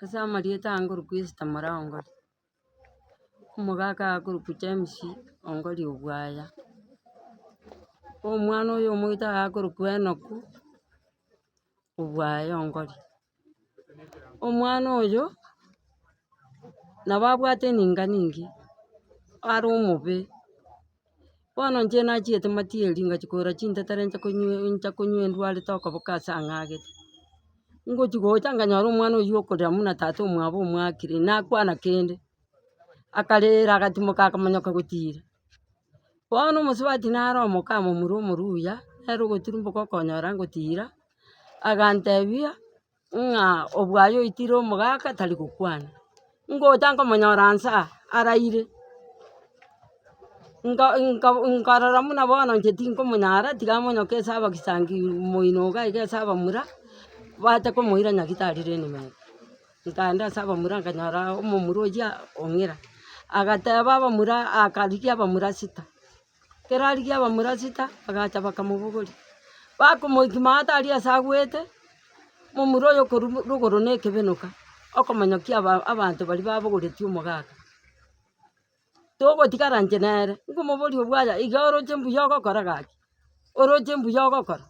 Ase amarieta angorokwa Esta mora ongori, omogaka agakoroku James ongori obwaya, omwana oyo omoito agakorokwu Enoku obwaya ongori. Omwana oyo, nabo abwate eninga ninge, are omobe, Bono inche nachiete matieri ingachia kogora chintetera inche konywe inche konywa endwarete okoboka ase ang'agete. Ngochia gocha nganyora omwana oyio okorira buna tata omwabo omwakire, nakwana kende, akarira agatimoka akamonyoka gotira. Bono omosubati naro omokama omorwa omoruya, nere ogoturumboka okonyora ngotira, agantebia. ng'a obwaye oitire omogaka tari gokwana. Ngocha nkomonyora nsa araire, nka nka nkarora buna bono inche tinkomonyara tiga amonyoke ase abagisangi moino iga iga ase abamura, bacha komoira nyagitari rende ime ime. Nkaenda ase abamura nkanyora omomura oyio ong'ira, agateba abamura akarigia abamura sita. Ekero arigia abamura chita, bagacha bakamobogoria. Bakomoikima ata aria ase agwete, momura oyo okorwa mo- rogoro na ekebenoka, okomanya ki aba- abanto baria babogoretie omogaka. Togotigara inche nere, nkomoboria obwaya iga oroche mbuya ogokora gaki? oroche mbuya ogokora?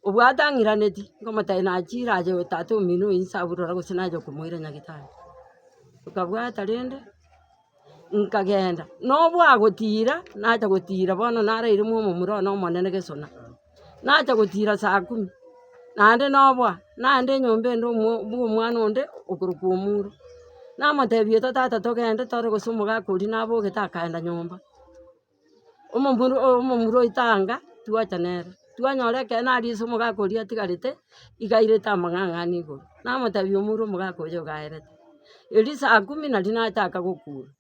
Obwo atang'iraneti, nkomotae nachiire aye tata omino oye inse aburore gose naye okomoira nyagetari. Nkabwata rende, nkagenda, na obwo agotiira, nacha gotiira bono naraire momura one omonene gesona. Nacha gotiira saa kumi, naende noboa, naende enyomba ende omo bwa omwana onde okorokwa omuro. Namotebi etwa tata togende tore gose omogaka oria nabogete akaenda nyomba. Omomura oo omomura oito anga, twacha nere, twanyora ekeene aria ase omogaka oria atigarete, igairete amang'ang'a ane igoro. Namotebi omura omogaka oyo ogaerete. Erio saa kumi naria nachaka gokura.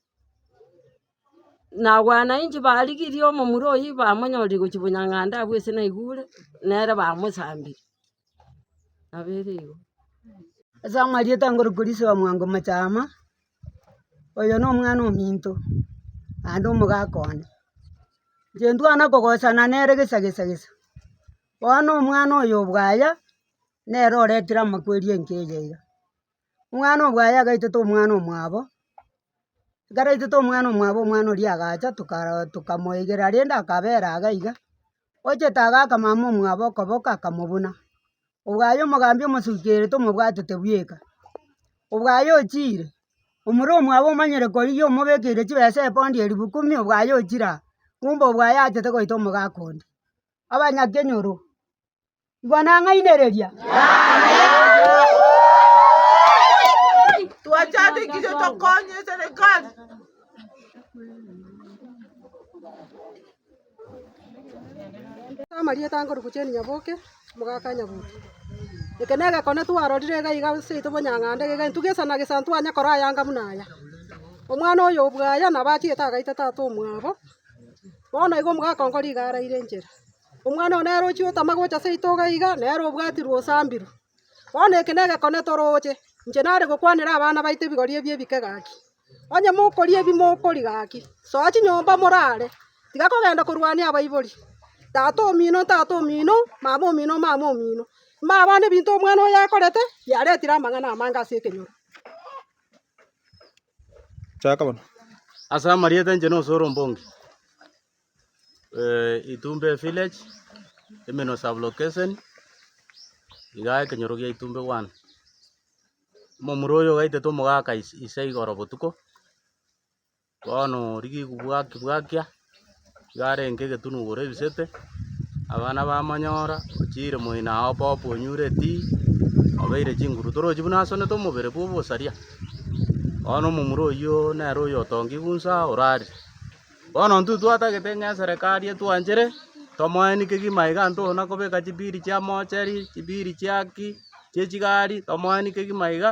Na wananchi barigirie omomura oyio bamonyorire gochia bonyang'anda abwo ase naigure, nere bamosambiri. Nabo ere igo. Ase amarieta ngorokwa riso ya mwango machaama. oyo nomwana ominto naende omogaka one. Inche ntwana kogosana nere gisa gisa gisa, bono omwana oyo obwaya nere oretire amakweri enka eye iga. Omwana obwaya agaitete omwana omwabo, ekaraitete omwana omwabo omwana oria agacha tokara tokamoigera rende akabera iga iga. Ochete agaa akamama omwabo okoboko akamobuna. Obwo aye omogambi omosukerete omobwatete bweka. Obwo aye ochire, omoro omwabo omanyire korigia omobekeire chibesa epondi elifu kumi obwo aye ochire aa. Kumbe obwo aye achete goita omogaka onde. Abanyakenyoro. Igwa nang'ainereria. Twachandekire tokonye serikali. amarieta ankorwa gochia Nyaboke, omogaka Nyabuto. Eke negekone twarorire iga iga seito bonyang'ande iga iga ntuge sana gesa ntwanye kora aya anga buna aya. Omwana oyo obwaya nabo achiete agaita tata omwabo, bono igo omogaka onkore iga araire enchera. Omwana oo nere ochia otama gocha ase itogo iga, nere obwatirwe osambirwe. Bono eke negekone toroche, inche nare gokwanera abana baito ebigori ebi ebike gaki. Onye mokoria ebi mokoria gaki, soa chinyomba morare, tiga kogenda korwania abaibori. Tata omino ntata omino, mama omino mama omino. Manye abana ebinto omwana oyo akorete, biaretire amang'ana amange ase ekenyoro. Ase amarieta inche nosore ombonge. Itumbe village, Imino sub location, iga ekenyoro gia Itumbe one. Omomura oyo ogaitete omogaka ise igoro botuko, bono rigiku bwakia bwakia, iga arenge egetunu igoro ebisete, abana bamonyora, ochire moino aye obobe obobe onyure etii, obeire chinguru torochi buna asonete omobere bwa obosaria. Bono omomura oyio nere oyo otongigwe inse orarire. Bono intwe twatagete ng'a eserekari etwanchere, tomoeni kegima iga nto na kobeka chibiri chia moocheri, chibiri chia ki, chie chigari, tomoeni kegima iga,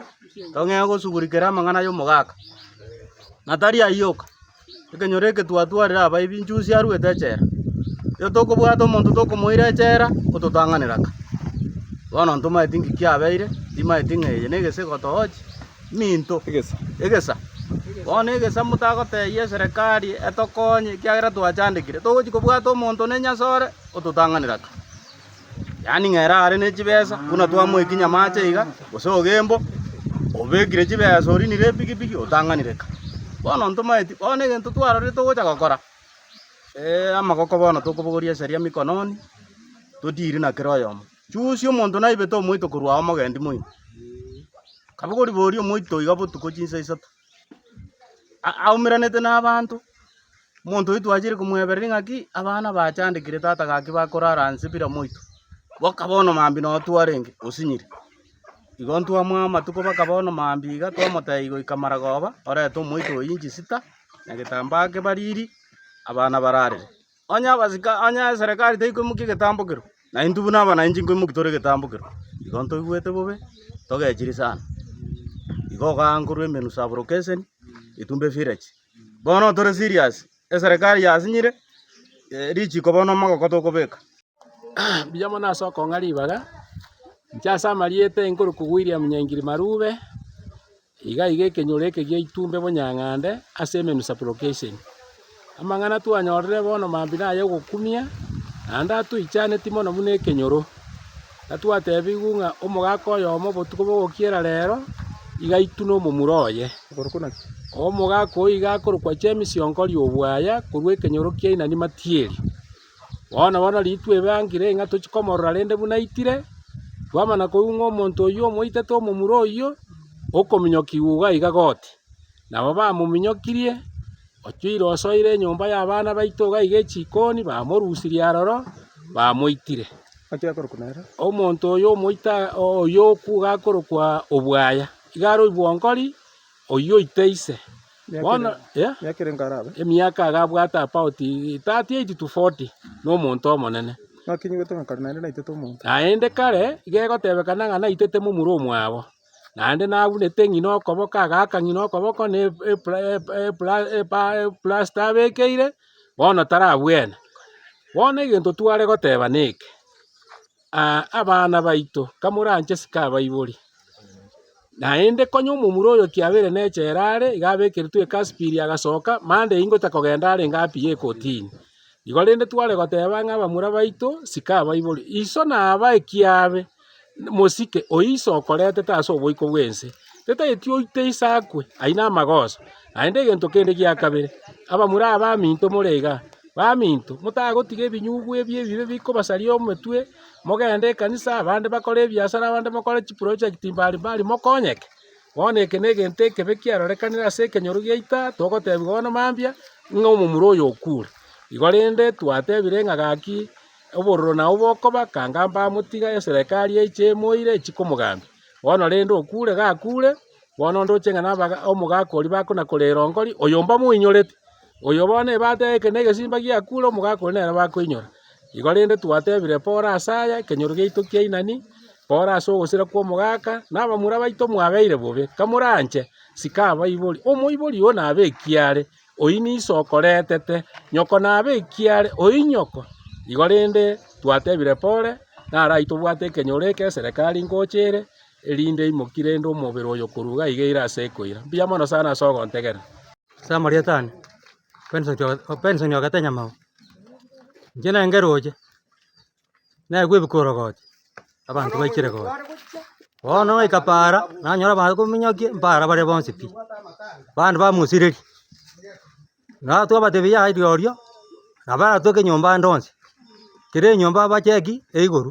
tong'ee gosugurikera amang'ana y'omogaka. Na tari ayio oka, ekenyoro eke twatwarire abaibi inchusi arwete echela, erio tokobwata omonto tokomoira echela, ototang'anera aka. Bono ntomaeti ng'iki kiabeire, timaeti ng'a eye negesiko toochi. minto. Egesa. Egesa. Bono egesa motagotebia eserekari etokonye ekiagera twachandekire, togochi kobwata omonto one nyasore ototang'anera ki? Yaani ng'a erare ne chibesa buna twamoiki nyamache iga, gose ogembo, obekire chibesa orinire epikipiki otang'anire ki? Bono ntomaeti, bono egento twarorire togocha gokora, amagoko bono tokobogoria eseria mikononi, todiiri na kera oyomo. Chuusi omonto naibete omoito korwa ao mogendi moino, kabwe koriboria omoito oiga botuko chinsa isato, aumeranete nabaanto, omonto oito achiire komwebereri ng'aki abana bachandekire tata gaki bakorara nse bira moito, boka bono mambia noo twarenge osinyire. Igo ntwamoa amatuko baka bono mambia iga twamotebia goika maragoba orete omoito oyio nchisita na getambaa kebariri abana bararere. Onye abasike, onye eserekari teikoimokia egetambo kero, na intwe buna abananchi nkoimoki tore egetambo kero, igo ntoigwete bobe, togechiri sana. Igo ogaa nkorwa emenwa saburokeseni, Getumbe Village. Bono tore serious, eserekari yasinyire, richiko bono omogoko tokobeka. Mbuya mono ase okong'a ribaga, inche ase amarieta inkorukwagwa William Nyaingiri Marube. Igaiga ekenyoro eke gia itumbe bonyang'ande ase emenu supplication. Amang'ana twanyorire bono mambi naya ogokumia, naende atoichaneti mono buna ekenyoro. Gatwatebigwe ng'a omogaka oyomo botuko bogokiera rero iga aitune omomura oye. Omogaka oyio iga akorokwa James Onkori Obwaya korwa ekenyoro kia Inani Matieri. Bono bono ritwe ebe angire ng'a tochie komorora rende buna aitire, twamana koigwa ng'a omonto oyio omoitete omomura oyio, okominyokigwa iga iga goti. Nabo bamominyokirie, ochia ire osoire enyomba y'abana baito iga iga echikoni, bamorusirie aroro, bamoitire. Omonto oyio omoita oyio okwa iga akorokwa Obwaya, iga are oibwongori. Oyio oite ise. Bono emiaka agabwata about thirty eight to forty nomonto omonene. Naende kare iga egotebekana ng'a naitete momura omwabo, naende nabunete ng'ina okoboko agaaka ng'ina okoboko ne eplasta abekeire bono tarabwene. Bono egento tware goteba neke. Aa abana baito, kamoranche sikabaibori. Naende konya omomura oyo kiabeire nechela are, iga abekeretwe ekasipiri agasoka, mande eyio ngotaka kogenda are inga apiye ekotini. Igo rende tware goteba ng'a abamura baito sikabaibori. Iso nabae kiabe, mosike oyio iso okoretete ase oboiko bw'ense. Tetaeti oite isakwe aye namagoso, naende egento kende gia kabere, abamura abaminto more igaa. Baminto, motagotiga ebinyugu ebi ebibe bikobasaria emetwe, mogende ekanisa, abande bakore ebiasara, abande bakore chiprojekti mbari mbari mokonyeke. Bono eke negento ekebe kiarorekanire ase ekenyoro giaito, togotebiwa bono mambia, ng'a omomura oyo okure. Igo rende twatebire ng'a gaki obororo nao bokoba, kanga mbamotiga, eserekari eiche emoire, echi komogambia. Bono rende okure gakure, bono ndoche ng'a nabe omogaka oria bakona-korera onkori, oyo mbamoinyorete. Oyo bono ebata yake na egesimba giakure, omogaka oria nere bakoinyora. Igo rende twatebire Paulo ase aya, ekenyoro giaito kia Inani, Paulo ase ogosira kw'omogaka, na abamura baito mwabeire bobe, kamoranche, sikabaibori, omoibori oo nabe ekiaare, Oyio niso okoretete nyoko nabe ekiya are oinyoko. Igo rende twatebire Pole narai tobwate ekenyoro eke eserekari ngocha ere, erinde imoki rende omobere oyo korwa iga iga eire ase ekoira. Mbuya mono sana ase ogontegera. Ase amarieta ane, Benson Oga Benson Ogatenya Mao, inche nenge roche. naye kwebeka orogoto, abanto baikire gocha. Bono goika paara, nanyora bakominyokia mpaara bare bonsi pi, abande bamosireri, naye twabatebia yaya rirorio, nabo aratoke nyomba ande onsi, kera enyomba abacheki, eiguru.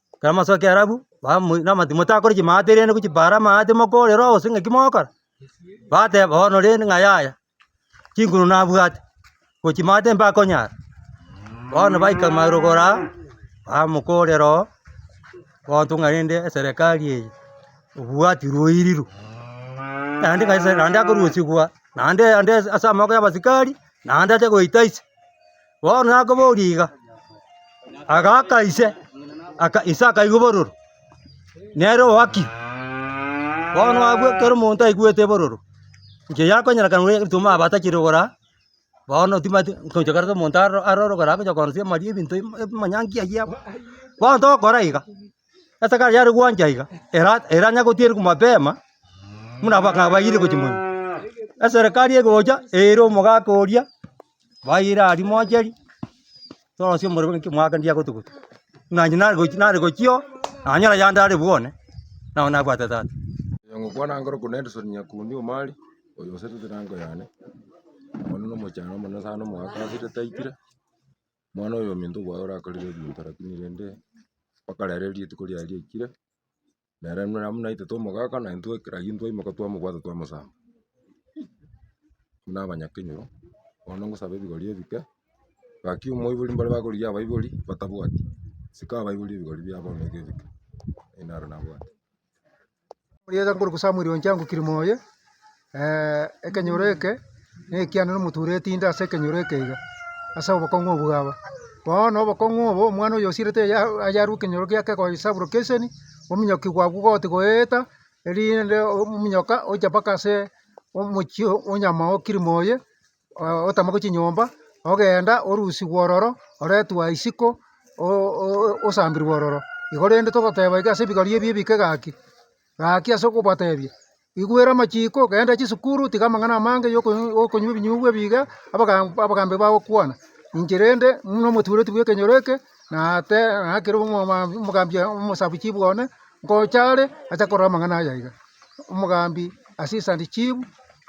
Ekero amasoe ake Earabu, bamoi na amati motakore chimaate rende gochi paara amaate mokorera obosa ng'aki mogokora, bateba bono rende ng'a yaya, chinguru nabwate, gochi maate mbakonyara. Bono baika marogoro aa, bamokorera oo, bontwa ng'a rende eserekari eye, obwati rwairiru, naende ng'a ase naende akorusigwa naende ande ase amaboko ya abasikari, naende ache goita ise. Bono nakoboria iga, agaaka ise, aka ise akaigwa obororo, nere owaki. Bono abwo ekero omonto aigwete obororo, inche yakonyerekana buna erituma aba atachire kogora, bono timati nkochia koreta omonto aro aroro kore agocha koonsi amari ebinto imo emanyaanki aywo amo. Bono togokora iga, esakari yare gwancha iga, era eranyare gotieria mapema, buna abang'aa bayiire gochia monwe. Eserekari egocha eira omogaka oria. bayeire aria mocheri, torosie omorero ng'aki mwaka ndiya gotuguta, buna inche nare gochi nare gochia oo, nanyora yandare abwo one, nabo nabwate tata. Oyo ngokwana ngoroku Nelson Nyakundi Omari, oyo osetete na engo yane, omonene na omochando omonene sana omogaka asire taitire, omwana oyominto bwaye orakorire ebinto lakini rende mpaka rero rituko riaye riaikire. Nere buna amo naitwe twamogaka na intwe ekero ayio twaimoka twamobwata twamosamba. Buna abanyakenyoro, bono ngosaba ebigori ebike, gaki omoibori mbare bakorigia abaibori batabwati, sika abaibori ebigori biabo bono iga ebike, naende naro nabwate. Omoyega nkoruku Samuel oncha ngokirima oye. ekenyoro eke nekiane nomotura etinde ase ekenyoro eke iga, ase obokong'u obwo bwaba. Bono obokong'u obo omwana oyo osirete ya yarwa ekenyoro giake goisabora kenseni, omonyoki bwabwo goti goeta, erinde omonyoka ocha mpaka ase omochie onyama o kirima oye, otamake chinyomba, ogenda orusigwa ororo, oretwa isiko osambirwe ororo. Igo rende togoteba iga ase ebigori ebi ebike gaki, gaki ase okobatebia. Igwera amachiko, genda chisukuru, tiga amang'ana amange y'okonywa ebinyugwa ebi iga, abagambi bagokwana. Inche rende buna omotuureti bw'ekenyoro eke, na te nakere omogambi omosabichibu one, ngocha are acha korora amang'ana aya iga. Omogambi assistant chief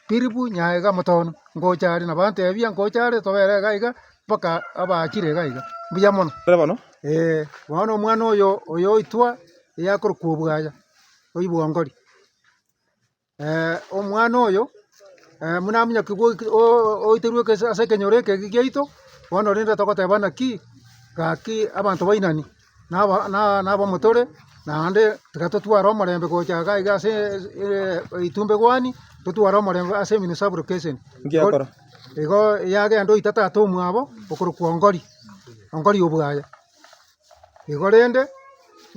Philipu Nyaega Motono, ngocha are na bantebia ngocha are tobera iga iga mpaka abaachire iga iga. Mbuya mono. Bono omwana oyo oitwa eyakorokwa Obwaya, oibwongori. Omwana oyo buna ominyokigu oeterwe ase ekenyoro eke giaito, bono rende togoteba naki, gaki abanto bainani, na abamotore, naende tiga totware omorembe gocha iga iga ase etumbegwani, totware omorembe ase emino saburukeseni. Igo yagenda oita tata omwabo okorokwa Ongori, Ongori obwaya. Igo rende,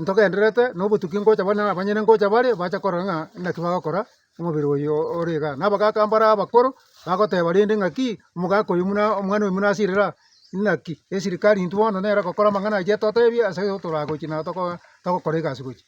ntogendererete nobotuki ngocha bare na abanyene ngocha bare bache korora ng'a naki bagokora omobere oyo ore igaa. Na abagaka mbare abakoro, bagoteba rende ng'aki, omogaka oyo buna omwana oyo buna asirire aa, inaki? Esirikari intwe bono nere egokora amang'ana ayio etotebia ase ekero toragochie na toko togokora egasi gochia.